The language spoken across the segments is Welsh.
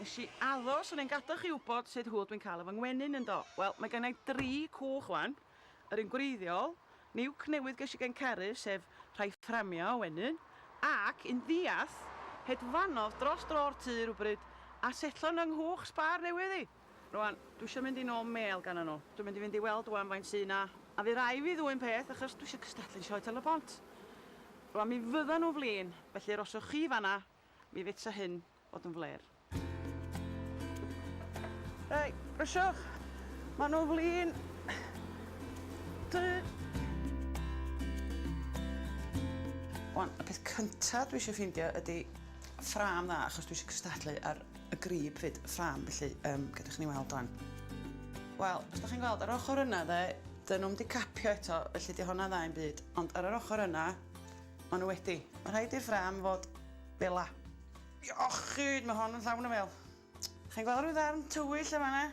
Nes i aros o'n i'n gadal chi wybod sut hwyl dwi'n cael efo ngwenyn yndo? Wel, mae gennai dri cwch wan, yr un gwreiddiol, niwc newydd ges i gen Carys sef rhai fframia o wenyn, ac un ddiarth hedfanodd dros dro'r tŷ rywbryd a setlo yn 'y nghwch sbâr newydd i! Rwan, dwi isio mynd i nôl mêl ganddyn nhw. Dwi'n mynd i fynd i weld rwan faint sy 'na, a fy rai' fi ddwyn peth achos dwi isio cystadlu'n Sioe Tal-y-bont. Rwan, mi fyddan nhw'n flin, felly yr os ewch chi fan'na, mi fetsa hyn fod yn flêr. Rai, brysiwch! Maen nhw'n flin! Tŷ! Rwan, y peth cynta' dwi isio ffindio ydi ffrâm dda achos dwi isio cystadlu ar y grib 'fyd, y ffrâm, felly um, gyda chi'n ei weld o'n. Wel, os da chi'n gweld, ar ochr yna dde, dyn nhw'n di capio eto, felly di hwnna dda i'n byd, ond ar yr ochr yna, maen nhw wedi. Mae rhaid i'r ffrâm fod bela. Iachyd, mae hon yn llawn o fel. Chi'n gweld rhyw ddarn tywyll yma na?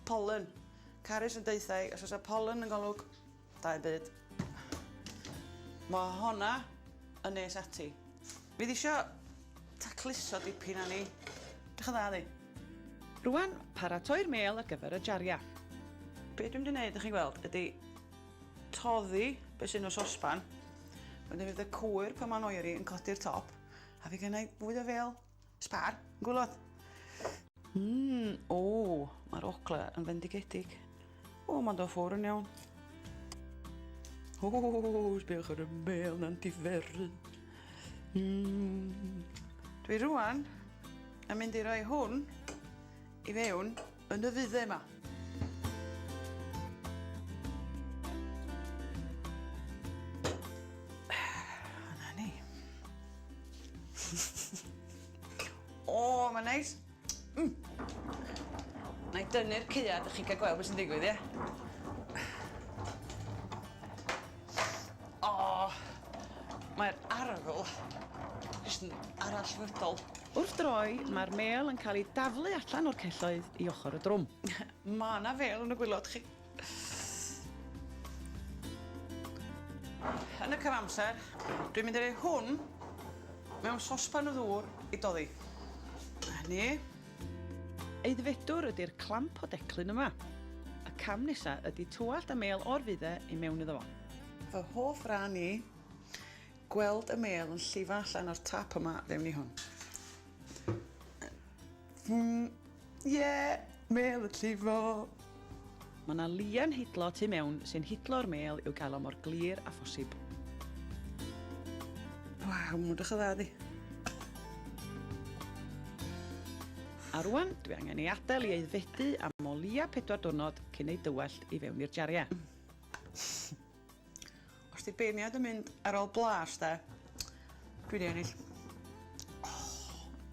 Pollen. Carys yn deuthau, os oes y pollen yn golwg, Da i byd. Mae honna yn nes ati. Fi ddisio tacluso dipyn a ni. Dych yn dda ddi. Rwan, paratoi'r mêl ar gyfer y jariau. Be dwi'n mynd i wneud, ych chi'n gweld, ydy toddi beth sy'n o sosban. Wedyn fydd y cwyr pan mae'n oeri yn codi'r top. A fi gennau fwy o fel Sbar, gwylod. Mmm, o, mae'r ogla yn fendigedig. O, mae'n do ffwr yn iawn. O, sbiwch ar y mel na'n diferu. Mmm. Dwi rwan yn mynd i roi hwn i fewn Yn y dde 'ma. Yna ni. o, mae'n neis. Mm. Na i dynnu'r ceuad, ych chi'n cael gweld beth sy'n digwydd, ie? Yeah? Oh, mae'r arogl jyst yn arallfydol. Wrth droi, mae'r mêl yn cael ei daflu allan o'r celloedd i ochr y drwm. Mae yna fêl yn y gwylod chi. Yn y cyfamser, dwi'n mynd i roi hwn mewn sospan o ddŵr i doddi. Hynny. Aeddfedwr ydy'r clamp o declyn yma. Y cam nesa ydy twallt a mêl o'r fudde i mewn iddo fo. Fy hoff ran i, gweld y mêl yn llifo allan o'r tap yma fewn i hwn. Ie! Mêl yn llifo! Mae 'na lian hidlo tu mewn sy'n hidlo'r mêl i'w gael o mor glir â phosib. Waw, mae'n edrych yn dda di. A rwan, dwi angen ei adael i aeddfedu am o leia pedwar diwrnod cyn ei dywallt i fewn i'r jariau. Os di beirniad yn mynd ar ôl blas de, dwi di ennill.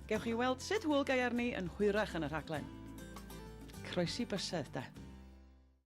Gewch chi weld sut hwyl gaearni yn hwyrach yn y rhaglen. Croesi bysedd de.